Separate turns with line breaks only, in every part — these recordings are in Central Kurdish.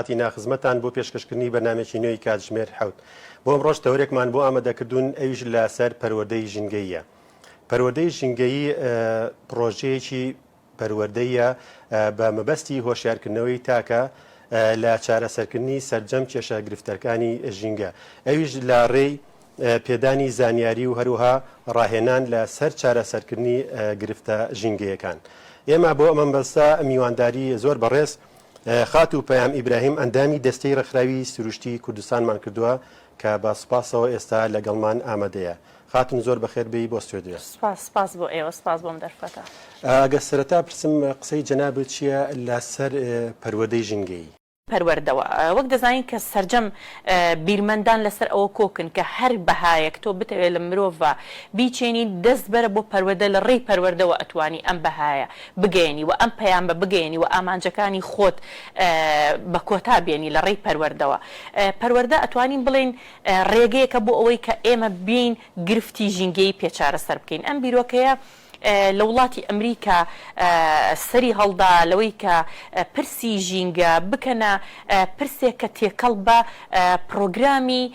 کاتی ناخزمەتان بۆ پێشکەشکردنی بەرنامەیەکی نوێی کاتژمێر حەوت. بۆ ئەمڕۆش تەوەرێکمان بۆ ئامادەکردوون ئەویش لە سەر پەروەردەی ژینگەییە. پەروەردەی ژینگەیی پڕۆژەیەکی پەروەردەیە بە مەبەستی هۆشیارکردنەوەی تاکە لە چارەسەرکردنی سەرجەم کێشە گرفتەرکانی ژینگە ئەویش لە ڕێی پێدانی زانیاری و هەروها ڕاهێنان لە سەر چارەسەرکردنی گرفتە ژینگەیەکان. ئێمە بۆ ئەمەم بەستە میوانداری زۆر بەڕێز. خاتوو پەیام ئیبراهیم ئەندامی دەستەی ڕێکخراوی سروشتی کوردستانمان کردووە کە بە سوپاسەوە ئێستا لەگەڵمان ئامادەیە. خاتوون زۆر بەخێر بێی بۆ ستۆدیۆ. سوپاس، سوپاس بۆ ئێوە،
سوپاس بۆم دەرفەتە. ئەگەر سەرەتا
پرسم قسەی جەنابت چییە لە سەر پەروەردەی ژینگەیی؟ پەروەردەوە
وەک دەزانین کە سەرجەم بیرمەندان لەسەر ئەوە کۆکن کە هەر بەهایەک تۆ بتەوێت لە مرۆڤ بیچێنیت دەست بەرە بۆ پەروەدە لە ڕێی پەروەردەوە ئەتوانی ئەم بەهایە بگەیەنی و ئەم پەیامە بگەیەنی و ئامانجەکانی خۆت بە کۆتا بێنی لە ڕێی پەروەردەوە. پەروەردە ئەتوانین بڵێین ڕێگەیەکە بۆ ئەوەی کە ئێمە بێین گرفتی ژینگەیی پێ چارەسەر بکەین. ئەم بیرۆکەیە لە وڵاتی ئەمریکا سەری هەڵدا لەوەی کە پرسی ژینگە بکەنە پرسێک کە تێکەڵ بە پڕۆگرامی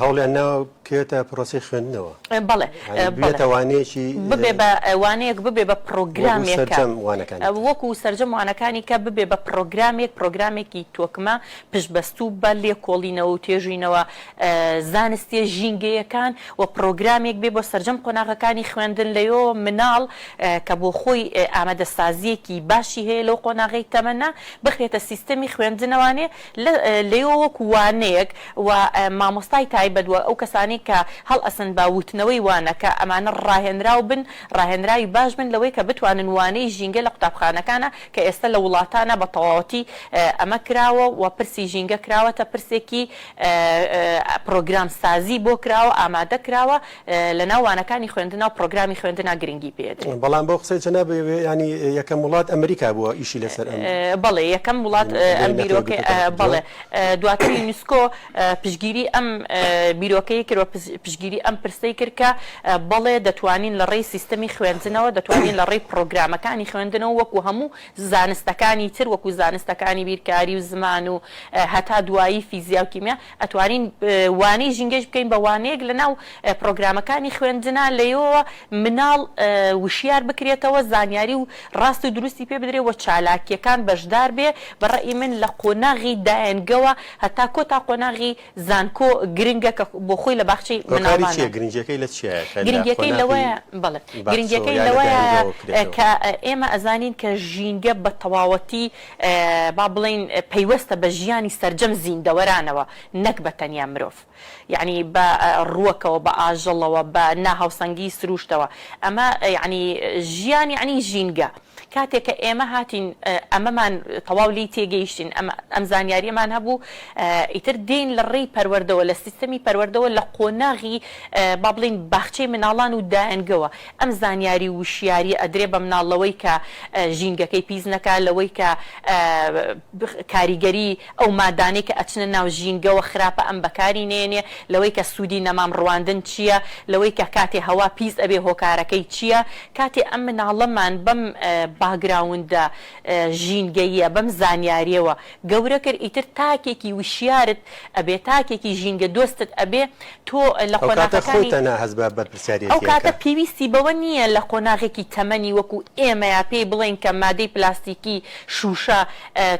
هەوڵیان ناوە بکەوێتە پرۆسەی خوێندنەوە. بەڵێ یانی
ببێتە وانەیەکی.
ببێ بە
وانەیەک ببێ بە پڕۆگرامێک. وەکو سەرجەم وانەکانی تر. وەکو سەرجەم وانەکانی کە ببێ بە پڕۆگرامێک، پڕۆگرامێکی تۆکمە پشتبەستوو بە لێکۆڵینەوە و توێژینەوە زانستییە ژینگەیەکان و پڕۆگرامێک بێ بۆ سەرجەم قۆناغەکانی خوێندن، لەوێوە مناڵ کە بۆ خۆی ئامادەسازییەکی باشی هەیە لەو قۆناغەی تەمەنە، بخرێتە سیستەمی خوێندنەوانێ لێیەوە وەکو وانەیەک و مامۆستای تایبەت و ئەو کەسانەی کە هەڵئەسن بە وتنەوەی وانە کە ئەمانە ڕاهێنراو بن ڕاهێنراوی باش بن لەوەی کە بتوانن وانەی ژینگە لە قوتابخانەکانا کە ئێستە لە وڵاتانا بە تەواوەتی ئەمە کراوە و پرسی ژینگە کراوەتە پرسێکی پرۆگرام سازی بۆ کراوە ئامادە کراوە لەناو وانەکانی خوێندنا و پرۆگرامی خوێندنا گرنگی پێدرێت. بەڵام بەو قسەی جەنابی
وێ یانی یەکەم وڵات ئەمریکا بووە ئیشی لەسەر ئەم. بەڵێ یەکەم
وڵات ئەم بیرۆکەی بەڵێ دواتر یونسکۆ پشگیری ئەم بیرۆکەی کرد و پشگیری ئەم پرسەی کرد کە بەڵێ دەتوانین لە ڕێی سیستەمی خوێندنەوە دەتوانین لە ڕێی پرۆگرامەکانی خوێندنەوە وەکو هەموو زانستەکانی تر وەکو زانستەکانی بیرکاری و زمان و هەتا دوایی فیزیا و کیمیا ئەتوانین وانەی ژینگەش بکەین بە وانەیەک لەناو پرۆگرامەکانی خوێندنا لەیەوەوە مناڵ وشیار بکرێتەوە زانیاری و ڕاست و دروستی پێ بدرێ وە چالاکیەکان بەشدار بێ بە ڕەئی من لە قۆناغی دایەنگەوە هەتا کۆ تا قۆناغی زانکۆ گرنگە کە بۆ خۆی لە باخچەی مناڵانە گرنگیەکەی لە
چیایە کە لە قۆناغی
بەڵێ گرنگیەکەی لەوەیە کە ئێمە ئەزانین کە ژینگە بە تەواوەتی با بڵێین پەیوەستە بە ژیانی سەرجەم زیندەوەرانەوە نەک بە تەنیا مرۆڤ یەعنی بە ڕووەکەوە بە ئاژەڵەوە بە ناهاوسەنگی سرووشتەوە ئەمە یەعنی ژیان یەعنی ژینگە کاتێک کە ئێمە هاتین ئەمەمان تەواو لێی تێگەیشتین ئەمە ئەم زانیاریەمان هەبوو ئیتر دێین لە ڕێی پەروەردەوە لە سیستەمی پەروەردەوە لە قۆناغی با بڵێین باخچەی مناڵان و دایەنگەوە ئەم زانیاری و وشیاریە ئەدرێ بە مناڵ لەوەی کە ژینگەکەی پیس نەکا لەوەی کە کاریگەری ئەو مادانەی کە ئەچنە ناو ژینگەوە خراپە ئەم بەکاری نێنێ لەوەی کە سودی نەمام ڕواندن چیە لەوەی کە کاتێ هەوا پیس ئەبێ هۆکارەکەی چیە کاتێ ئەم مناڵەمان بەم باگراوندە ژینگەییە بەم زانیاریەوە گەورە کرد ئیتر تاکێکی وشیارت ئەبێ تاکێکی ژینگە دۆستت ئەبێ تۆ لە ئەو کاتە قۆناغەکانی خۆیتان نا هەست بە ئەو بەرپرسیاریەتیەکە. کاتە پێویستی بەوە نییە لە قۆناغێکی تەمەنی وەکو ئێمەیا پێی بڵێین کە مادەی پلاستیکی شوشە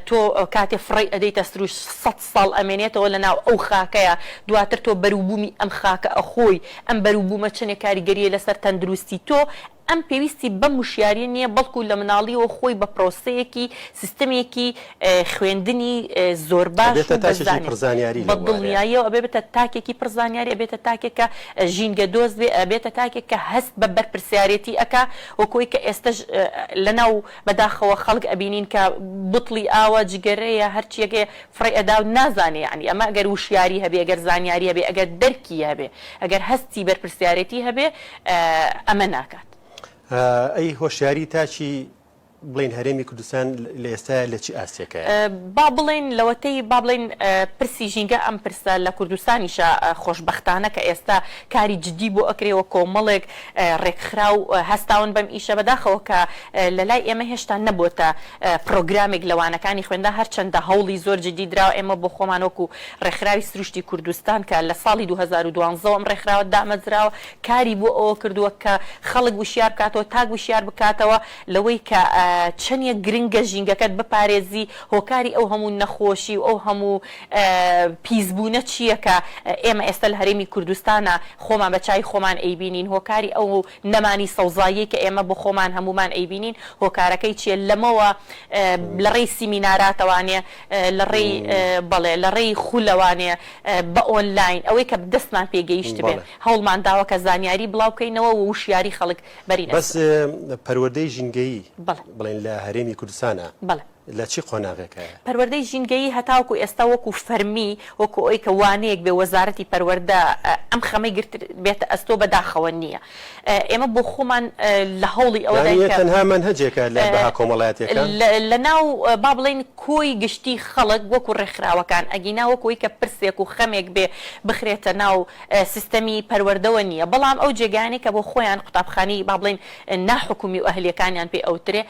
تۆ کاتێ فڕێی ئەدەیتە سروشت سەد ساڵ ئەمێنێتەوە لە ناو ئەو خاکەیا دواتر تۆ بەروبومی ئەم خاکە ئەخۆی ئەم بەروبومە چەنێ کاریگەریە لەسەر تەندروستی تۆ ئەم پێویستی بەم وشیاریە نیە بەڵکو لە مناڵیەوە خۆی بە پرۆسەیەکی سیستەمێکی خوێندنی زۆر باش و بەزانیاری بە دڵنیایەوە ئەبێ بێتە تاکێکی پڕ زانیاری ئەبێتە تاکێک کە ژینگە دۆست بێ ئەبێتە تاکێک کە هەست بە بەرپرسیارێتی ئەکا وەک ئەوەی کە ئێستەش لەناو بەداخەوە خەڵک ئەبینین کە بوتڵی ئاوە جگەرەیە هەرچیەک هەیە فڕێ ئەدا و نازانێ یانی ئەمە گەر وشیاری هەبێ گەر زانیاری هەبێ ئەگەر دەرکی هەبێ ئەگەر هەستی بەرپرسیارێتی هەبێ
ئەمە
ناکات.
ئەی
هۆشیاری
تاکی بڵێین هەرێمی کوردستان لە ئێستایا لە چ ئاستێکەیە؟ با بڵێین
لەوەتەی با بڵێین پرسی ژینگە ئەم پرسە لە کوردستانیشا خۆشبەختانە کە ئێستا کاری جدی بۆ ئەکرێ و کۆمەڵێک ڕێکخراو هەستاون بەم ئیشە بەداخەوە کە لە لای ئێمە هێشتا نەبۆتە پرۆگرامێک لە وانەکانی خوێندن هەرچەندە هەوڵی زۆر جدی درا ئێمە بۆ خۆمان وەکو ڕێکخراوی سروشتی کوردستان کە لە ساڵی دوو هەزار و دوازدە ئەم ڕێکخراوە دامەزراوە کاری بۆ ئەوە کردووە کە خەڵک وشیار بکاتەوە تاک وشیار بکاتەوە لەوەی کە چەنیە گرنگە ژینگەکەت بپارێزی هۆکاری ئەو هەموو نەخۆشی و ئەو هەموو پیس بوونە چییە کە ئێمە ئێستا لە هەرێمی کوردستانا خۆمان بە چاوی خۆمان ئەیبینین هۆکاری ئەو نەمانی سەوزاییەی کە ئێمە بۆ خۆمان هەموومان ئەیبینین هۆکارەکەی چییە لەمەوە لە ڕێی سیمیناراتەوانێ لە ڕێی بەڵێ لە ڕێی خولەوانێ بە ئۆنلاین ئەوەی کە دەستمان پێ گەیشتبێ بەڵێ. هەوڵمان داوە کە زانیاری بڵاو بکەینەوە و وشیاری خەڵک بەرین بەس ئەستۆ.
پەروەردەی ژینگەیی بەڵێ. بڵێن لە هەرێمی کوردستانا بەڵێ. لە چی قۆناغێکایە؟ پەروەردەی ژینگەیی
هەتاوەکو ئێستا وەکو فەرمی وەکو ئەوەی کە وانەیەک بێ وەزارەتی پەروەردە ئەم خەمەی گرتبێتە ئەستۆ بەداخەوە نییە. ئێمە بۆ خۆمان لە هەوڵی ئەوە داین کە. یانیە تەنها مەنهەجێکە
لە بەها کۆمەڵایەتیەکان؟ لە ناو
با بڵێین کۆی گشتی خەڵک وەکو ڕێکخراوەکان، ئەگینا وەکو ئەوی کە پرسێک و خەمێک بێ بخرێتە ناو سیستەمی پەروەردەوە نیە، بەڵام ئەو جێگایانەی کە بۆ خۆیان قوتابخانەی با بڵێین ناحکومی و ئەهلیەکانیان پێ ئەوترێ،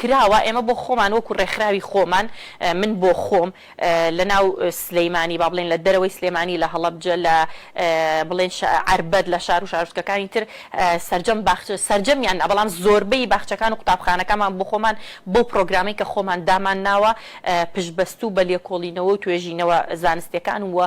کراوە ئێمە
بۆ خۆمان وەکو ڕێکخراوی خۆمان من بۆ خۆم لە ناو سلێمانی با بڵێن لە دەرەوەی سلێمانی لە هەڵەبجە لە بڵێن عەربەت لە شار و شارۆچکەکانی تر سەرجەم باخچە سەرجەمیان نا بەڵام زۆربەی باخچەکان و قوتابخانەکانمان بۆ خۆمان بەو پڕۆگرامەی کە خۆمان دامان ناوە پشتبەستوو بە لێکۆڵینەوە و توێژینەوە زانستیەکان و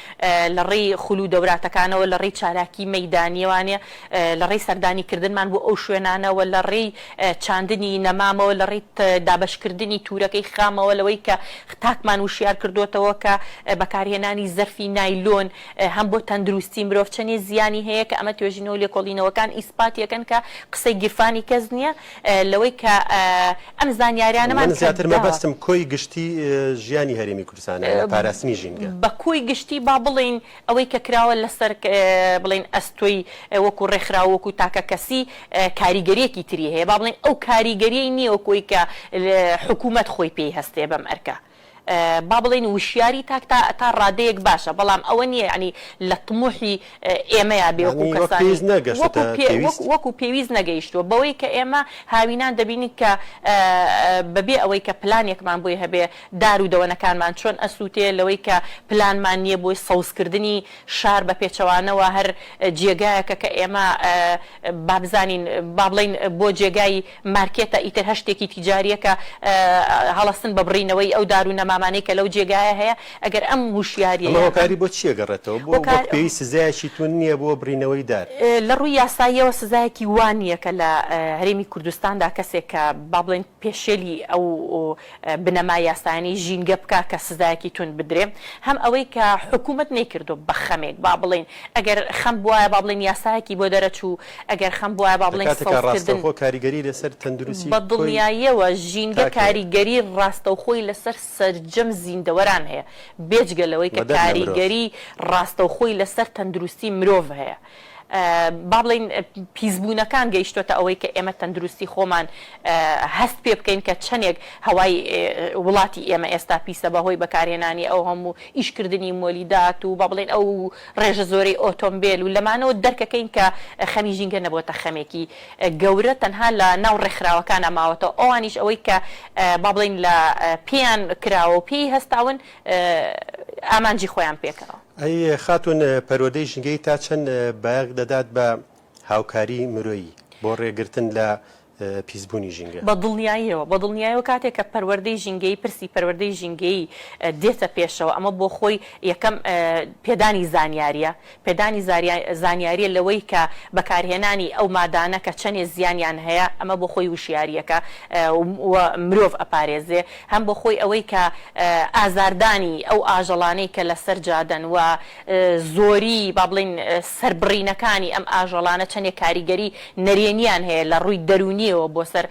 لە ڕێی خول و دەوراتەکانەوە، لە ڕێی چالاکی مەیدانیە وانە، لە ڕێی سەردانی کردنمان بۆ ئەو شوێنانەوە، لە ڕێی چاندنی نەمامەوە، لە ڕێی دابەش کردنی تورەکەی خامەوە، لەوەی کە تاکمان وشیار کردۆتەوە کە بەکارهێنانی زەرفی نایلۆن هەم بۆ تەندروستی مرۆڤ چەنێ زیانی هەیە کە ئەمە توێژینەوە لێکۆڵینەوەکان ئیسپاتیەکەن کە قسەی گیرفانی کەس نیە. لەوەی کە ئەم زانیاریانەمان کە داوە. من زیاتر مەبەستم
کۆی گشتی ژیانی هەرێمی کوردستانە لە پاراستنی ژینگە. بە کۆی گشتی با
بڵێین ئەوەی کە کراوە لەسەر بڵێین ئەستۆی وەکو ڕێکخراو وەکو تاکەکەسی کاریگەریەکی تری هەیە با بڵێین ئەو کاریگەریەی نیە وەکو ئەوەی کە حکومەت خۆی پێی هەستێ بەم ئەرکە. با بڵێین وشیاری تاک تا تا ڕادەیەک باشە بەڵام ئەوە نییە یەعنی لە طموحی ئێمەیا بێ وەکوو کەسانی وەکوو پێ وەکوو پێویست نەگەیشتووە بەوەی کە ئێمە هاوینان دەبینین کە بە بێ ئەوەی کە پلانێکمان بۆی هەبێ دار و دەوەنەکانمان چۆن ئەسووتێ لەوەی کە پلانمان نییە بۆی سەوزکردنی شار بە پێچەوانەوە هەر جێگایەکە کە ئێمە با بزانین با بڵێین بۆ جێگای مارکێتە ئیتر هەر شتێکی تیجاریە کە هەڵەستن بە بڕینەوەی ئەو دارو نەمامانەی کە لەو جێگایە هەیە ئەگەر ئەم هوشیاریە ئەم هۆکاری بۆ چیە
گەڕێتەوە بۆ وەک پێویست سزایەکی توند نیە بۆ بڕینەوەی دار؟ لە ڕووی یاساییەوە
سزایەکی وا نیە کە لە هەرێمی کوردستاندا کەسێک کە با بڵێین پێشێلی ئەو بنەما یاسایانەی ژینگە بکا کە سزایەکی توند بدرێ هەم ئەوەی کە حکومەت نەیکردوە بە خەمێک با بڵێین ئەگەر خەم بوایە با بڵێین یاسایەکی بۆ دەرەچوو ئەگەر خەم بوایە با بڵێین
سەوزکردن بە دڵنیاییەوە
ژینگە کاریگەری ڕاستەوخۆی لەسەر سەرجەم زیندەوەران هەیە بێجگە لەوەی کە کاریگەری ڕاستەوخۆی لەسەر تەندروستی مرۆڤ هەیە. با بڵێین پیسبوونەکان گەیشتۆتە ئەوەی کە ئێمە تەندروستی خۆمان هەست پێ بکەین کە چەندێک هەوای وڵاتی ئێمە ئێستا پیسە بە هۆی بەکارهێنانی ئەو هەموو ئیش کردنی مۆلیدات و با بڵێن ئەو ڕێژە زۆرەی ئۆتۆمبێل و لەمانەوە دەرکەکەین کە خەمی ژینگە نەبۆتە خەمێکی گەورە تەنها لە ناو ڕێکخراوەکانا ماوەتەوە ئەوانیش ئەوەی کە با بڵێین لە پێیان کراوە و پێی هەستاون ئامانجی خۆیان پێکەوە. ئەی خاتوون
پەروەردەی ژنگەی تا چەند بایەخ دەدات بە هاوکاری مرۆیی بۆ ڕێگرتن لە پیسبوونی ژینگە؟ بە دڵنیاییەوە، بە
دڵنیایەوە کاتێک کە پەروەردەی ژینگەیی، پرسی پەروەردەی ژینگەیی دێتە پێشەوە ئەمە بۆ خۆی یەکەم پێدانی زانیارییە، پێدانی زانیارییە لەوەی کە بەکارهێنانی ئەو مادانە کە چەنێ زیانیان هەیە ئەمە بۆ خۆی وشیارییەکە و مرۆڤ ئەپارێزێ. هەم بۆ خۆی ئەوەی کە ئازاردانی ئەو ئاژەڵانەی کە لەسەر جادەن و زۆری با بڵێین سەربڕینەکانی ئەم ئاژەڵانە چەندێک کاریگەری نەرێنیان هەیە لە ڕووی دەروونییەوە بۆ سەر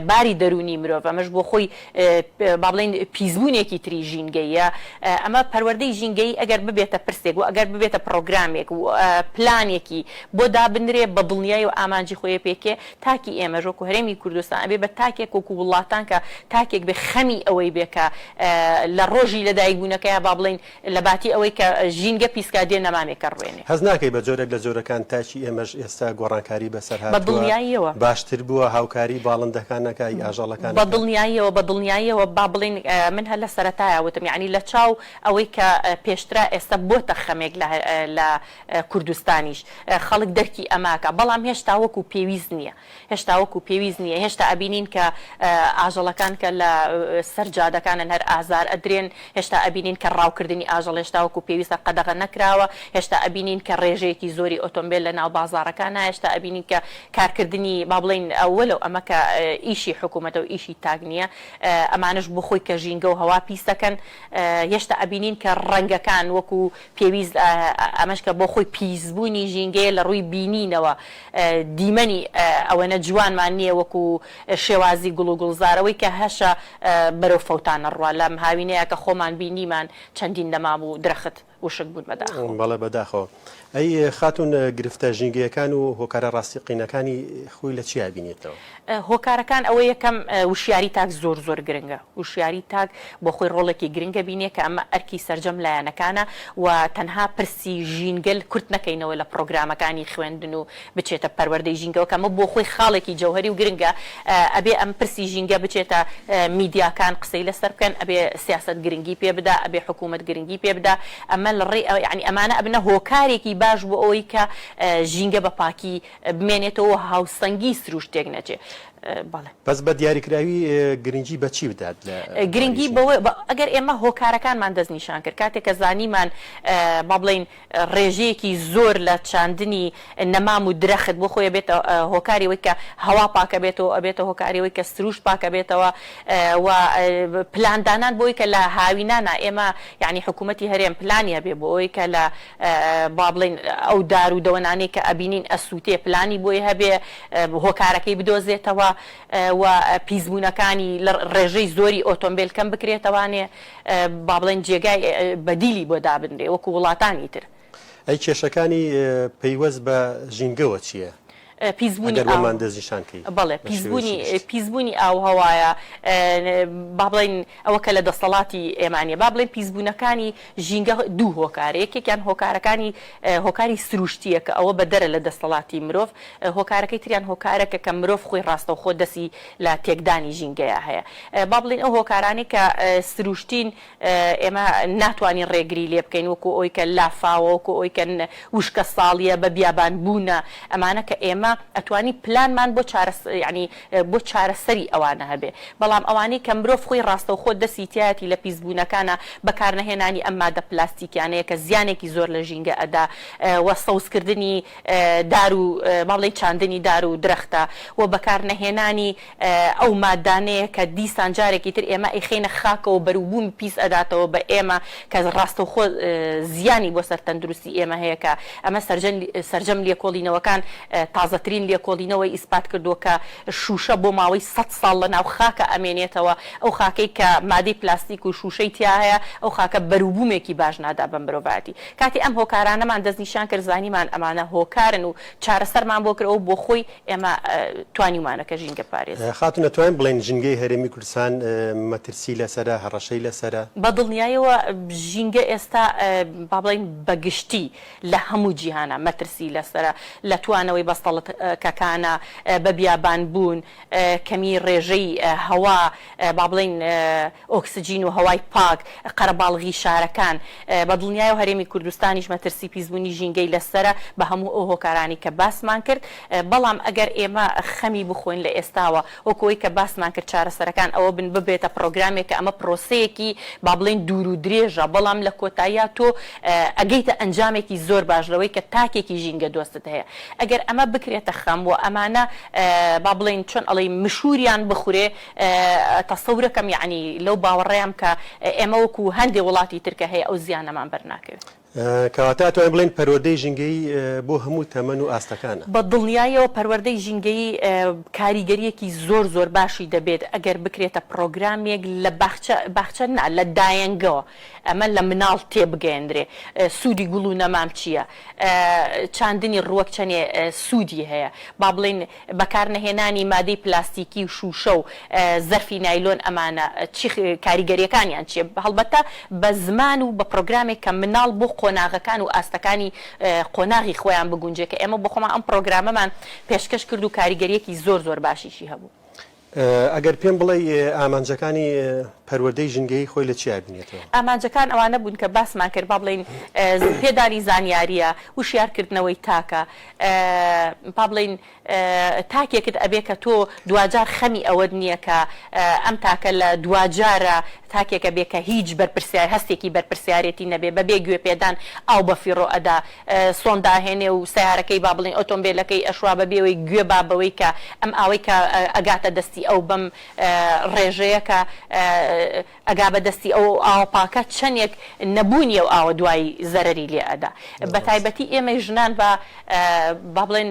باری دەروونی مرۆڤ ئەمەش بۆ خۆی با بڵێین پیسبوونێکی تری ژینگەییە ئەمە پەروەردەی ژینگەیی ئەگەر ببێتە پرسێک و ئەگەر ببێتە پڕۆگرامێک و پلانێکی بۆ دابنرێ بە دڵنیایی و ئامانجی خۆی پێکێ تاکی ئێمەش وەکو هەرێمی کوردستان ئەبێ بە تاکێک وەکو وڵاتان کە تاکێک بێ خەمی ئەوەی بێ کە لە ڕۆژی لە دایک بوونەکەیا با بڵێین لە باتی ئەوەی کە ژینگە پیسکا دێ نەمامێکە ڕوێنێ. هەست ناکەی بە جۆرێک لە
جۆرەکان تاکی ئێمەش ئێستا گۆڕانکاری بەسەر بە هاتووە، دڵنیاییەوە.
باشتر بووە، هاوکاری
باڵندەکان ئەکا ی ئاژەڵەکان بە ئەکا؟ دڵنیاییەوە بە
دڵنیاییەوە با بڵێین من هەر لە سەرەتایا وتم یانی لە چاو ئەوەی کە پێشترا ئێستا بۆتە خەمێک لە کوردستانیش خەڵک دەرکی ئەماکا بەڵام هێشتا وەکو پێویست نیە هێشتا وەکو پێویست نیە هێشتا ئەبینین کە ئاژەڵەکان کە لە سەر جادەکانن هەر ئازار ئەدرێن هێشتا ئەبینین کە ڕاوکردنی ئاژەڵ هێشتا وەکو پێویستە قەدەغە نەکراوە هێشتا ئەبینین کە ڕێژەیەکی زۆری ئۆتۆمبێل لە ناو بازاڕەکانە هێشتا ئەبینین کە کارکردنی با بڵێین وەلەو ئەمە کە ئیشی حکومەتە و ئیشی تاک نیە ئەمانەش بۆ خۆی کە ژینگە و هەوا پیس دەکەن هێشتا ئەبینین کە ڕەنگەکان وەکو پێویست ئەمەش کە بۆ خۆی پیسبوونی ژینگەیە لە ڕووی بینینەوە دیمەنی ئەوەنە جوانمان نییە وەکو شێوازی گوڵ و گوڵزار ئەوەی کە هەشە بەرەو فەوتان ئەڕوا لەم هاوینەیە کە خۆمان بینیمان چەندین نەما بوو درەخت وشک بوون بەداخەوە. بەڵێ بەداخەوە
ئەی خاتوون گرفتە ژینگەیەکان و هۆکارە ڕاستیقینەکانی خۆی لە چیا بینێتەوە؟ هۆکارەکان ئەوە
یەکەم وشیاری تاک زۆر زۆر گرنگە وشیاری تاک بۆخۆی ڕۆڵێکی گرنگە بینێ کە ئەمە ئەرکی سەرجەم لایەنەکانە و تەنها پرسی ژینگەل کورت نەکەینەوە لە پڕۆگرامەکانی خوێندن و بچێتە پەروەردەی ژینگەوە کە ئەمە بۆخۆی خاڵێکی جەوهەری و گرنگە ئەبێ ئەم پرسی ژینگە بچێتە میدیاکان قسەی لەسەر بکەن ئەبێ سیاسەت گرنگی پێ بدا ئەبێ حکوومەت گرنگی پێ بدا ئەمە لە ڕێی یانی ئەمانە ئەبنە هۆکارێکی باش بۆ ئەوەی کە ژینگە بە پاکی بمێنێتەوە و هاوسەنگی سروشت تێک نەچێ بەڵێ. بەس
بە دیاریکراوی گرنگی بە چی بدات لە بواری گرنگی ژینگە؟
بەوە ئەگەر ئێمە هۆکارەکانمان دەست نیشان کرد کاتێک کە زانیمان با بڵێین ڕێژەیەکی زۆر لە چاندنی نەمام و درەخت بۆ خۆی ئەبێتە هۆکاری ئەوەی کە هەوا پاک ئەبێتەوە و ئەبێتە هۆکاری ئەوەی کە سروشت پاک ئەبێتەوە و پلان دانان بۆ ئەوەی کە لە هاوینانا ئێمە یانی حکوومەتی هەرێم پلانی هەبێ بۆ ئەوەی کە لە با بڵێین ئەو دار و دەوەنانەی کە ئەبینین ئەسووتێ پلانی بۆی هەبێ هۆکارەکەی بدۆزێتەوە و پیسبوونەکانی لە ڕێژەی زۆری ئۆتۆمبێل کەم بکرێتەوانێ با بڵێن جێگای بەدیلی بۆ دابنرێ وەکوو وڵاتانی تر. ئەی کێشەکانی
پەیوەست بە ژینگەوە چییە؟ پیسبوونی ئاو. ئەگەر
وەمان دەستنیشان کەی.
بەڵێ پیسبوونی
پیسبوونی ئاو هەوایە با بڵێین ئەوە کە لە دەسەڵاتی ئێمە نیە با بڵێین پیسبوونەکانی ژینگە دوو هۆکارە یەکێکیان هۆکارەکانی هۆکاری سروشتیە کە ئەوە بە دەرە لە دەستەڵاتی مرۆڤ هۆکارەکەی تریان هۆکارەکە کە مرۆڤ خۆی ڕاستەوخۆ دەسی لە تێکدانی ژینگەیە هەیە با بڵێین ئەو هۆکارانەی کە سروشتین ئێمە ناتوانین ڕێگری لێ بکەین وەکو ئەوی کە لافاوە، وەکو ئەوی کە وشکەساڵییە، بە بیابان بوونە، ئەمانە کە ئێمە ئەتوانین پلانمان بۆ چارەس یانی بۆ چارەسەری ئەوانە هەبێ، بەڵام ئەوانەی کە مرۆڤ خۆی ڕاستەوخۆ دەستی تیایەتی لە پیسبوونەکانا، بەکار نەهێنانی ئەم مادە پلاستیکیانەیە کە زیانێکی زۆر لە ژینگە ئەدا و سەوز کردنی دار و با بڵێین چاندنی دار و درەختە و بەکار نەهێنانی ئەو مادانەیە کە دیسان جارێکی تر ئێمە ئەیخەینە خاکەوەو بەروبوومی پیس ئەداتەوە بە ئێمە کە ڕاستەوخۆ زیانی بۆ سەر تەندروستی ئێمە هەیە کە ئەمە سەرجەم لێکۆڵینەوەکان تازەترین لێکۆڵینەوەی ئیسپات کردووە کە شوشە بۆ ماوەی سەد ساڵ لە ناو خاکا ئەمێنێتەوە ئەو خاکەی کە مادەی پلاستیک و شوشەی تیا هەیە ئەو خاکە بەروبوومێکی باش نادا بە مرۆڤایەتی کاتێ ئەم هۆکارانەمان دەست نیشان کرد زانیمان ئەمانە هۆکارن و چارەسەرمان بۆ کرد ئەو بۆ خۆی ئێمە توانیومانە کە ژینگە پارێزی. خاتون ئەتوانین بڵێین
ژنگەی هەرێمی کوردستان مەترسی لەسەرە هەڕەشەی لەسەرە؟ بە دڵنیایەوە
ژینگە ئێستا با بڵێین بە گشتی لە هەموو جیهانا مەترسی لەسەرە لە توانەوەی بەستەڵت کەکانە بە بیابان بوون کەمی ڕێژەی هەوا با بڵێین ئۆکسجین و هەوای پاک، قەرەباڵغی شارەکان، بەدڵنیایەوە هەرێمی کوردستانیش مەترسی پیسبوونی ژینگەی لەسەرە بە هەموو ئەو هۆکارانەی کە باسمان کرد، بەڵام ئەگەر ئێمە خەمی بخۆین لە ئێستاوە وەکو ئەوەی کە باسمان کرد چارەسەرەکان ئەوە بن ببێتە پڕۆگرامێک کە ئەمە پرۆسەیەکی با بڵێین دوور و درێژە بەڵام لە کۆتاییا تۆ ئەگەیتە ئەنجامێکی زۆر باش لەوەی کە تاکێکی ژینگە دۆستت هەیە ئەگەر ئەمە بکرێتە خەم و ئەمانە با بڵێین چۆن ئەڵێی مشووریان بخورێ تەسەورەکەم یەعنی لەو باوەڕەیام کە ئێمە وەکوو هەندێ وڵاتی تر کە هەیە ئەو زیانەمان بەر ناکەوێ. کەواتە
ئەتوانین بڵێین پەروەردەی ژینگەیی بۆ هەموو تەمەن و ئاستەکانە؟ بە دڵنیاییەوە
پەروەردەی ژینگەیی کاریگەرییەکی زۆر زۆر باشی دەبێت ئەگەر بکرێتە پڕۆگرامێک لە باخچە، باخچە نا لە دایەنگەوە ئەمە لە مناڵ تێ بگەیەندرێ سوودی گوڵ و نەمام چییە؟ چاندنی ڕووەک چەنێ سوودی هەیە؟ با بڵێین بەکارنەهێنانی مادەی پلاستیکی و شووشە و زەرفی نایلۆن ئەمانە چی کاریگەرییەکانیان چییە؟ هەڵبەتە بە زمان و بە پرۆگرامێک کە مناڵ بۆ قۆناغەکان و ئاستەکانی قۆناغی خۆیان بگونجێ کە ئێمە بۆ خۆمان ئەم پرۆگرامەمان پێشکەش کرد و کاریگەرییەکی زۆر زۆر باشیشی هەبوو. ئەگەر
پێم بڵێی ئامانجەکانی پەروەردەی ژنگەیی خۆی لە چیا بینێتەوە؟ ئامانجەکان ئەوانە بوون
کە باسمان کرد با بڵێین پێدانی زانیارییە، وشیارکردنەوەی تاکە، با بڵێین تاکێکت ئەبێ کە تۆ دواجار خەمی ئەوەت نییە کە ئەم تاکە لە دواجارە تاکێک ئەبێ کە هیچ بەرپرسیا هەستێکی بەرپرسیارێتی نەبێ بەبێ گوێ پێدان ئاو بە فیڕۆ ئەدا سۆن داهێنێ و سەیارەکەی با بڵێین ئۆتۆمبێلەکەی ئەشوا بە بێوەی گوێ با بەوەی کە ئەم ئاوەی کە ئەگاتە دەستی ئەو بەم ڕێژەیە کە ئەگا بە دەستی ئەو ئەو ئاوە پاکە چەنێک نەبوونی ئەو ئاوە دوای زەرەری لێ ئەدا بە تایبەتی ئێمەی ژنان با با بڵێن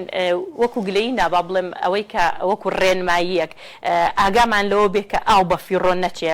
وەکوو گلەیی نا با بڵێم ئەوەی کە وەکوو ڕێنماییەک ئاگامان لەوە بێ کە ئاو بە فیڕۆ نەچێ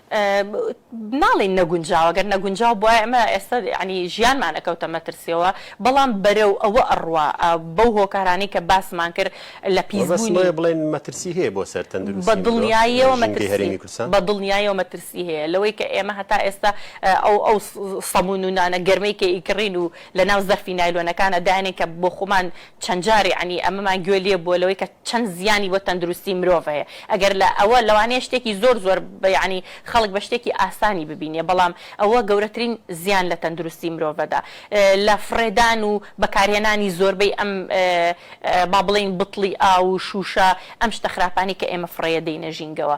ناڵێین نەگونجاوە، گەر نەگونجاو بوایە ئێمە ئێستا یەعنی ژیانمان ئەکەوتە مەترسیەوە، بەڵام بەرەو ئەوە ئەڕوا بەو هۆکارانەی کە باسمان کرد لە پیسبوونی. وە بەس لۆیە بڵێین مەترسی هەیە
بۆ سەر تەندروستی مرۆڤ لە ژینگەی
هەرێمی کوردستان؟ بە دڵنیایەوە مەترسی هەیە، لەوەی کە ئێمە هەتا ئێستا ئەو ئەو سەمون و نانە گەرمەی کە ئیکڕین و لەناو زەرفی نایلۆنەکانا داینێن کە بۆخۆمان چەند جار یەعنی ئەمەمان گوێ لێ بووە لەوەی کە چەند زیانی بۆ تەندروستی مرۆڤ هەیە ئەگەر لە ئەوە لەوانەیە شتێکی زۆر زۆر بە یەعنی خەڵک بە شتێکی ئاسانی ببینێ بەڵام ئەوە گەورەترین زیان لە تەندروستی مرۆڤەدا لە فڕێدان و بەکارهێنانی زۆربەی ئەم با بڵێین بتڵی ئاو و شووشە ئەم شتە خراپانەی کە ئێمە فڕێ دەینە ژینگەوە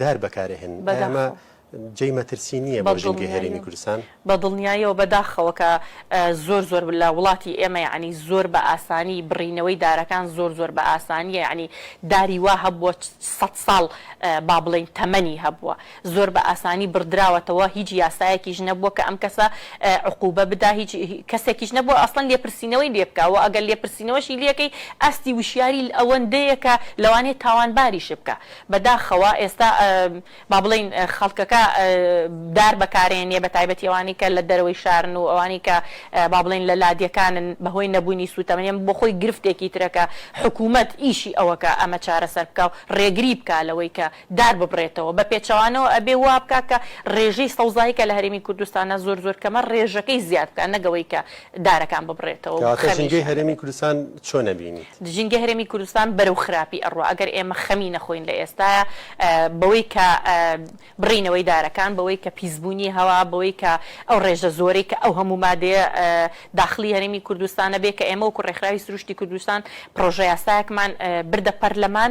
دار بەکارئەهێنن ئایا ئەمە بەداخەوە. جێی مەترسی نییە بۆ ژینگەی هەرێمی بەدڵنیاییەوە کوردستان؟ بەدڵنیاییەوە
بەداخەوە کە زۆر زۆر لە وڵاتی ئێمە یەعنی زۆر بە ئاسانی بڕینەوەی دارەکان زۆر زۆر بە ئاسانییە یەعنی داری وا هەبووە سەد ساڵ با بڵێین تەمەنی هەبووە زۆر بە ئاسانی بڕدراوەتەوە هیچ یاسایەکیش نەبووە کە ئەم کەسە عقوبە بدا هیچ کەسێکیش نەبووە ئەسڵەن لێپرسینەوەی لێ بکا وە ئەگەر لێپرسینەوەشی لێکەی ئاستی وشیاری ئەوەندەیە کە لەوانەیە تاوانباریش بکا بە داخەوە ئێستا با بڵێین خەڵکەکە دار بەکارێنێ بە تایبەتی ئەوانەی کە لە دەرەوەی شارن و ئەوانەی کە با بڵێین لە لادێکانن بە هۆی نەبوونی سووتەمەنی ئەمە بۆ خۆی گرفتێکی ترە کە حکوومەت ئیشی ئەوە کە ئەمە چارەسەر بکا و ڕێگری بکا لەوەی کە دار ببڕێتەوە بە پێچەوانەوە ئەبێ وا بکا کە ڕێژەی سەوزایی کە لە هەرێمی کوردستانە زۆر زۆر کەمە ڕێژەکەی زیاد بکا نەک ئەوەی کە دارەکان ببڕێتەوە و کەواتە ژینگەی خەمیشیان هەرێمی دەبێت.
کوردستان چۆن ئەبینیت؟ ژینگەی هەرێمی کوردستان
بەرەو خراپی ئەڕوا، ئەگەر ئێمە خەمی نەخۆین لە ئێستایا بەوەی کە بڕینەوەی دارەکان، بەوەی کە پیسبوونی هەوا، بەوەی کە ئەو ڕێژە زۆرەی کە ئەو هەموو مادەیە داخڵی هەرێمی کوردستانە بێ کە ئێمە وەکو ڕێکخراوی سروشتی کوردستان پڕۆژەیاسایەکمان بردە پەرلەمان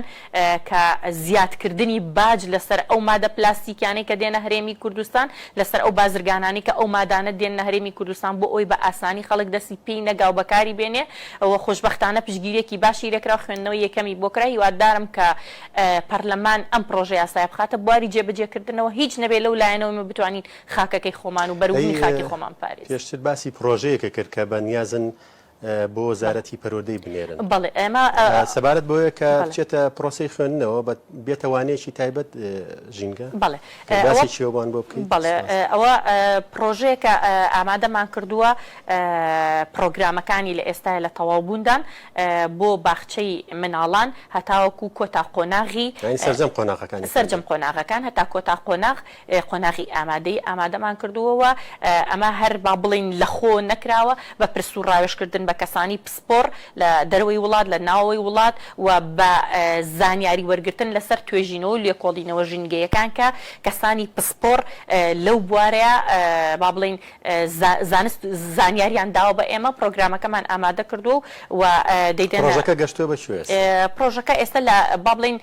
کە زیادکردنی باج لەسەر ئەو مادە پلاستیکیانەی کە دێنە هەرێمی کوردستان، لەسەر ئەو بازرگانانەی کە ئەو مادانە دێننە هەرێمی کوردستان بۆ ئەوەی بە ئاسانی خەڵک دەستی پێی نەگا و بەکاری بێنێ و خۆشبەختانە پشتگیریەکی باشی لێ کرا و خوێندنەوەی یەکەمی بۆ کرا، هیوادارم کە پەرلەمان ئەم پڕۆژە یاسایە بخاتە بواری جێبەجێ کردنەوە هیچ نەبێ لەو لایەنەوە ئێمە بتوانین خاکەکەی خۆمان و بەروبوومی خاکی خۆمان بپارێزین. پێشتر باسی پڕۆژەیەکە
کرد کە بە نیازن بۆ وەزارەتی پەروەردەی بنێرن. بەڵێ ئێمە
سەبارەت بۆیە کە
بچێتە پرۆسەی خوێندنەوە بە بێتە وانەیەکی تایبەت ژینگە بەڵێ
باسی چیەوەبان
بۆ بکەین بەڵێ ئەوە
پرۆژەیەکە ئامادەمان کردووە پرۆگرامەکانی لە ئێستا لە تەواوبووندان بۆ باخچەی مناڵان هەتاوەکو کۆتا قۆناغی سەرجەم قۆناغەکان سەرجەم قۆناغەکان هەتا کۆتا قۆناغ قۆناغی ئامادەیی ئامادەمان کردووە و ئەمە هەر با بڵێین لەخۆ نەکراوە، بە پرس و ڕاوێژکردن بە کەسانی پسپۆڕ لە دەرەوەی وڵات، لە ناوەوەی وڵات و بە زانیاری وەرگرتن لەسەر توێژینەوە و لێکۆڵینەوە ژینگەیەکان کە کەسانی پسپۆڕ لەو بوارە با بڵێین زانست و زانیاریان داوە بە ئێمە، پرۆگرامەکەمان ئامادە کردووە و دەیدەنە. پرۆژەکە
گەشتووە بە کوێ ئێستا؟ پرۆژەکە ئێستا
لە با بڵێین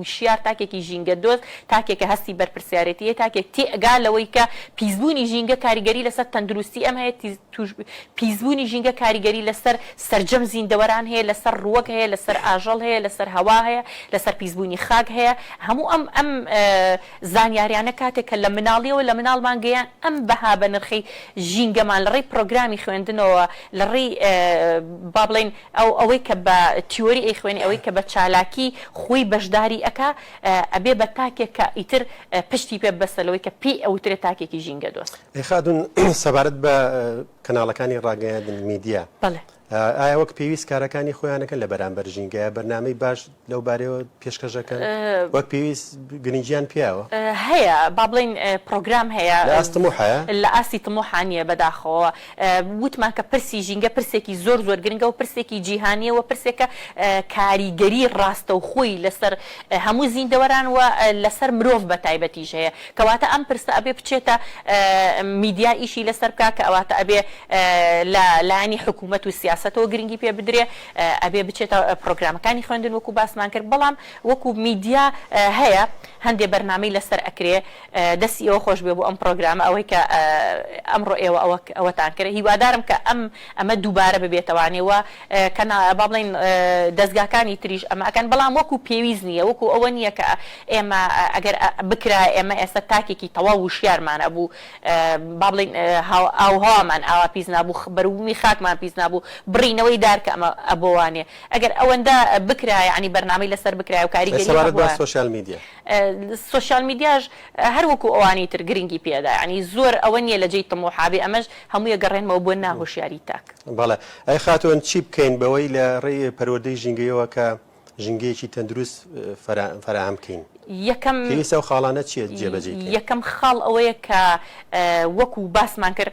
وشیار تاکێکی ژینگە دۆست، تاکێکە هەستی بەرپرسیارێتی هەیە، تاکێک تێئگا لەوەی کە پیسبوونی ژینگە کاریگەری لەسەر تەندروستی ئێمە هەیە، پیسبوونی ژینگە کاریگەری لەسەر سەرجەم زیندەوەران هەیە، لەسەر ڕووەک هەیە، لەسەر ئاژەڵ هەیە، لەسەر هەوا هەیە، لەسەر پیسبوونی خاک هەیە، هەموو ئەم ئەم. زانیاریانە کاتێک کە لە مناڵیەوە لە مناڵمان گەیان ئەم بەها بەنرخەی ژینگەمان لەڕێی پرۆگرامی خوێندنەوە لەڕێی با بڵێین ئەو ئەوەی کە بە تیۆری ئەیخوێنێ ئەوەی کە بە چالاکی خۆی بەشداری ئەکا ئەبێ بە تاکێک کە ئیتر پشتی پێ ببەستە لەوەی کە پێی ئەوترێ تاکێکی ژینگە دۆست. ئەی خاتون
سەبارەت بە کەناڵەکانی ڕاگەیاندن میدیا بەڵێ ئایا وەک پێویست کارەکانی خۆیان دەکەن لەبەرامبەر ژینگە؟ یا بەرنامەی باش لەو بارەیەوە پێشکەش دەکەن؟ وەک پێویست گرنگییان پێیەوە؟ هەیە، با
بڵێین پرۆگرام هەیە. لە ئاست طموحە؟ لە
ئاستی طموحا
نییە بەداخەوە. وتمان کە پرسی ژینگە پرسێکی زۆر زۆر گرنگە و پرسێکی جیهانییە و پرسێکە کاریگەری ڕاستەوخۆی لەسەر هەموو زیندەوەران و لەسەر مرۆڤ بەتایبەتیش هەیە. کەواتە ئەم پرسە ئەبێ بچێتە میدیا ئیشی لەسەر بکا کە ئەواتە ئەبێ لە لایەنی حکوومەت و سیاسەتەوە گرنگی پێ بدرێ ئەبێ بچێتە پرۆگرامەکانی خوێندن وەکو باسمان کرد بەڵام وەکو میدیا هەیە هەندێ بەرنامەی لەسەر ئەکرێ دەسی ئێوە خۆش بێ بۆ ئەم پرۆگرامە ئەوەی کە ئەمڕۆ ئێوە ئەوەتان کرد هیوادارم کە ئەم ئەمە دووبارە ببێتەوانێ و کەنا با بڵێین دەزگاکانی تریش ئەمە ئەکەن بەڵام وەکو پێویست نییە وەکو ئەوە نییە کە ئێمە ئەگەر بکرایە ئێمە ئێستا تاکێکی تەواو وشیارمان ئەبوو با بڵێین ئاوهەوامان ئاوا پیس نابوو بەروبوومی خاکمان پیس نابوو بڕینەوەی دار کە ئەمە ئەبۆوانێ ئەگەر ئەوەندە بکرایە یانی بەرنامەی لەسەر بکرایە و کاریگەری هەبوایە.
سۆشیال
میدیاش هەر وەکو ئەوانی تر گرنگی پێدا یانی زۆر ئەوە نیە لە جێی تموحا بێ ئەمەش هەموو ئەگەڕێنمەوە بۆ ناهۆشیاری تاک. بەڵێ ئەی
خاتوون چی بکەین بەوەی لە ڕێی پەروەردەی ژینگەیەوە کە ژینگەیەکی تەندروست فەراهەم بکەین پێویستە ئەو خاڵانە چیە جێبەجێی بکەین؟ یەکەم خاڵ
ئەوەیە کە وەکو باسمان کرد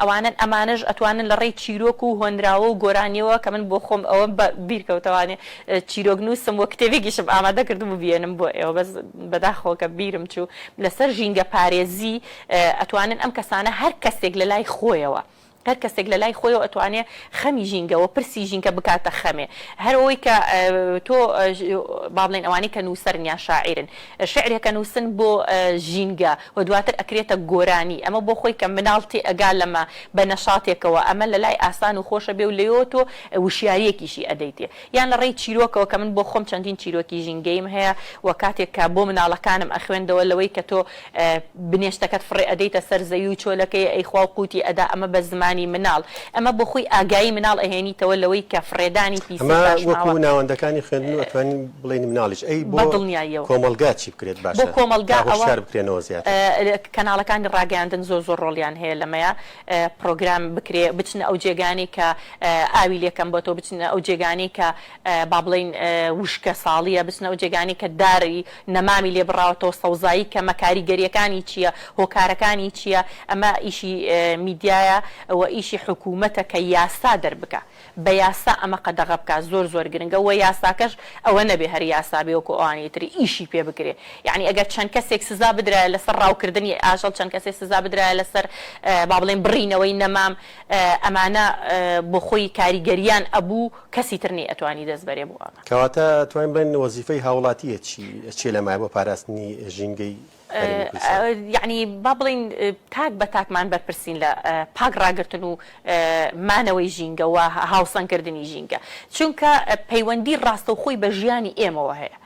ئەوانەن ئەمانەش ئەتوانن لە ڕێی چیرۆک و هۆنراوە و گۆرانیەوە کە من بۆ خۆم ئەوەم بە بیر کەوتەوە نێ چیرۆک نووسم و کتێبێکیشم ئامادە کردم و بیێنم بۆ ئێوە بەس بەداخەوە کە بیرم چوو لە سەر ژینگە پارێزی ئەتوانن ئەم کەسانە هەر کەسێک لە لای خۆیەوە هەر کەسێک لە لای خۆیەوە ئەتوانێ خەمی ژینگە وە پرسی ژینکە بکاتە خەمێ هەر ئەوەی کە تۆ با بڵێن ئەوانەی کە نووسەرن یان شاعیرن شعرێکە نووسن بۆ ژینگە و دواتر ئەکرێتە گۆرانی ئەمە بۆ خۆی کە مناڵ تێ ئەگا لەمە بە نەشاتێکەوە ئەمە لە لای ئاسان و خۆشە بێ و لێۆ تۆ وشیاریەکیشی ئەدەیتێ یان لە ڕێی چیرۆکەوە کە من بۆ خۆم چەندین چیرۆکی ژینگەیم هەیە و کاتێک کە بۆ مناڵەکانم ئەخوێندەوە لەوەی کە تۆ بنێشتەکەت فڕێ ئەدەیتە سەر زەوی و چۆلەکەی ئەیخوا و قوتی ئەدا ئەمە بە زمانی مناڵ ئەمە بۆ خۆی ئاگایی مناڵ ئەهێنیتەوە لەوەی کە فڕێدانی پیسی پاشماوە. ئەمە وەکو
ناوەندەکانی خوێندن و ئەتوانین بڵێین مناڵیش ئەی بۆ کۆمەڵگا چی بکرێت باشە تا
هۆشیار بکرێنەوە
زیاتر؟ بۆ کۆمەڵگا ئەوە کەناڵەکانی
ڕاگەیاندن زۆر زۆر ڕۆڵیان هەیە لەمەیا پڕۆگرام بکرێ بچنە ئەو جێگانەی کە ئاوی لێ کەم بۆتەوە بچنە ئەو جێگانەی کە با بڵێین وشکە ساڵییە، بچنە ئەو جێگانەی کە داری نەمامی لێ بڕاوەتەوە، سەوزایی کەمە، کاریگەرییەکانی چییە، هۆکارەکانی چییە، ئەمە ئیشی میدیایە و ئیشی حکوومەتە کە یاسا دەربکا، بە یاسا ئەمە قەدەغە بکا، زۆر زۆر گرنگە و یاساکەش ئەوە نەبێ هەر یاسا بێ وەکوو ئەوانی تر ئیشی پێ بکرێ، یەعنی ئەگەر چەند کەسێک سزا بدرایە لەسەر ڕاوکردنی ئاژەڵ، چەند کەسێک سزا بدرایە لەسەر با بڵێین بڕینەوەی نەمام، ئەمانە بۆ خۆی کاریگەریان ئەبوو، کەسی تر نی ئەتوانی دەست بەرێ بۆ ئەمە. کەواتە توانین بڵێن
وەزیفەی هاوڵاتیە چی چیە لە مایە بۆ پاراستنی ژینگەی هەرێمی کوردستان؟
یەعنی با بڵێین تاک بە تاکمان بەرپرسین لە پاک ڕاگرتن و مانەوەی ژینگە و هاوسەنگ کردنی ژینگە چونکە پەیوەندی ڕاستەوخۆی بە ژیانی ئێمەوە هەیە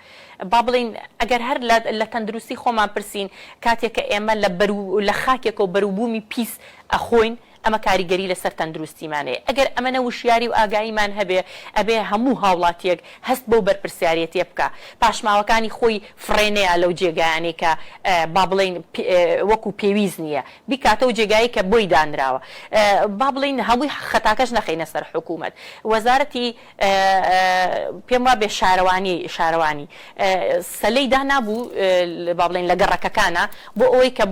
با بڵێین ئەگەر هەر لە تەندروستی خۆمان پرسین کاتێک کە ئێمە لە بەرو لە خاکێکەوە بەروبومی پیس ئەخۆین ئەمە کاریگەری لەسەر تەندروستیمان هەیە، ئەگەر ئەمەنە وشیاری و ئاگاییمان هەبێ، ئەبێ هەموو هاوڵاتییەک هەست بەو بەرپرسیاریەتیە بکا، پاشماوەکانی خۆی فڕێ نەیا لەو جێگایانەی کە با بڵێین وەکو پێویست نییە بیکاتەوە جێگایی کە بۆی دانراوە، با بڵێین هەمووی خەتاکەش نەخەینە سەر حکومەت، وەزارەتی. پێم وابێ شارەوانی شارەوانی سەلەی دانابوو با بڵێین لە گەڕەکەکانا بۆ ئەوەی کە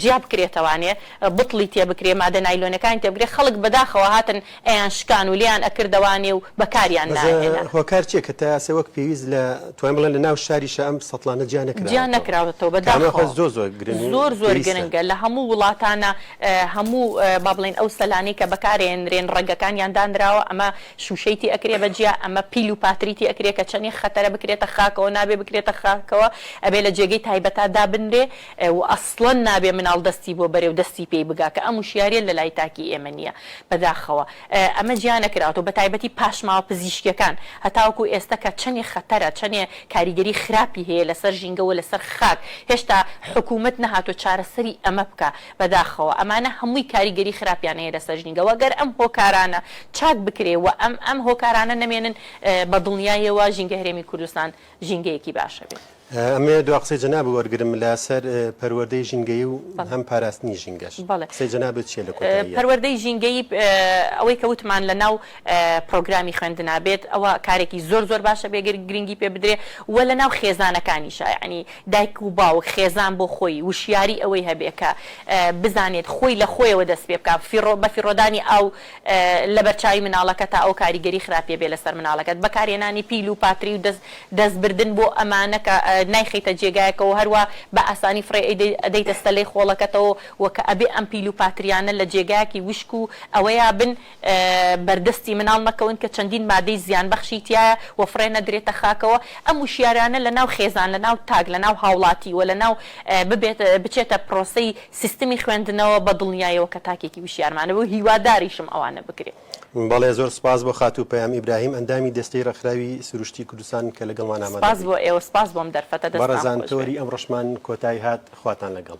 جیا بکرێتەوانێ بتڵی تێ بکرێ مادە نایلۆنەکانی تێ بکرێ خەڵک بەداخەوە هاتن ئەیان شکان و لێیان ئەکردەوانێ و بەکاریان ناهێنا. بەس هۆکار چیە کە تایاسێ
وەک پێویست لە توانین بڵێن لە ناو شاریشا ئەم سەتڵانە جیا نەکراوەتەوە؟ جیا نەکراوەتەوە بەداخەوە زۆر زۆر
گرنگ و زۆر زۆر
گرنگە لە هەموو
وڵاتانا هەموو با بڵێین ئەو سەلانەی کە بەکارێنرێن ڕەگەکانیان دانراوە ئەمە شوشەی تێ ئەکرێ بە جیا ئەمە پیل و پاتری تێ ئەکرێ کە چەنێ خەتەرە بکرێتە خاکەوە نابێ بکرێتە خاکەوە ئەبێ لە جێگەی تایبەتا دابنرێ و ئەسڵەن نابێ مناڵ دەستی بۆ بەرێ و دەستی پێی بگا کە ئەم وشیاریە لە لای تاکی ئێمە نیە بەداخەوە ئەمە جیا نەکراوەتەوە بە تایبەتی پاشماوە پزیشکیەکان هەتاوەکو ئێستە کە چەنێ خەتەرە چەنێ کاریگەری خراپی هەیە لەسەر ژینگە و لەسەر خاک هێشتا حکومەت نەهاتوە چارەسەری ئەمە بکا بەداخەوە ئەمانە هەمووی کاریگەری خراپیان هەیە لەسەر ژنی گەواد گەر ئەم هۆکارانە چاک بکرێ و ئەم ئەم هۆکارانە نەمێنن بە دڵنیایەوە ژینگە هەرێمی کوردستان ژینگەیەکی باشە بێت. ئەمەوێ دوا قسەی
جەنابت وەرگرم لەسەر پەروەردەی ژینگەیی و هەم پاراستنی ژینگەش قسەی جەنابت چیە لە کۆتاییا؟ پەروەردەی
ژینگەیی ئەوەی کە وتمان لە ناو پرۆگرامی خوێندنا بێت ئەوە کارێکی زۆر زۆر باشە بێ گرنگی پێ بدرێ و لە ناو خێزانەکانیشا یەعنی دایک و باوک خێزان بۆ خۆی وشیاری ئەوەی هەبێ کە بزانێت خۆی لە خۆیەوە دەست پێ بکا فیڕۆ بە فیڕۆدانی ئاو لە بەرچاوی مناڵەکە تا ئەو کاریگەری خراپیە بێ لەسەر مناڵەکەت بەکارهێنانی پیل و پاتری و دەست دەست بردن بۆ ئەمانە کە نایخەیتە جێگایەکەوە هەروا بە ئاسانی فڕێ ئەیدەی ئەدەیتە ستەلەی خۆڵەکەتەوە و کە ئەبێ ئەم پیل و پاتریانە لە جێگایەکی وشک و ئەوەیا بن بەردەستی مناڵ مەکەون کە چەندین مادەی زیانبەخشی تیایە و فڕێ نەدرێتە خاکەوە، ئەم وشیارانە لە ناو خێزان لە ناو تاک لە ناو هاوڵاتی و لە ناو ببێت بچێتە پرۆسەی سیستمی خوێندنەوە بە دڵنیایەوە کە تاکێکی وشیارمانە و هیواداریشم ئەوانە بکرێت. بەڵێ زۆر سپاس
بۆ خاتوو پەیام ئیبراهیم ئەندامی دەستەی ڕێکخراوی سروشتی کوردستان کە لەگەڵمان ئامادە بوو. سپاس بۆ ئێوە
سپاس
بۆم دەرفەتە
دەستان خۆش
بێت. بەڕێزان تۆری
ئەمڕۆشمان کۆتای
هات خواتان
لەگەڵ.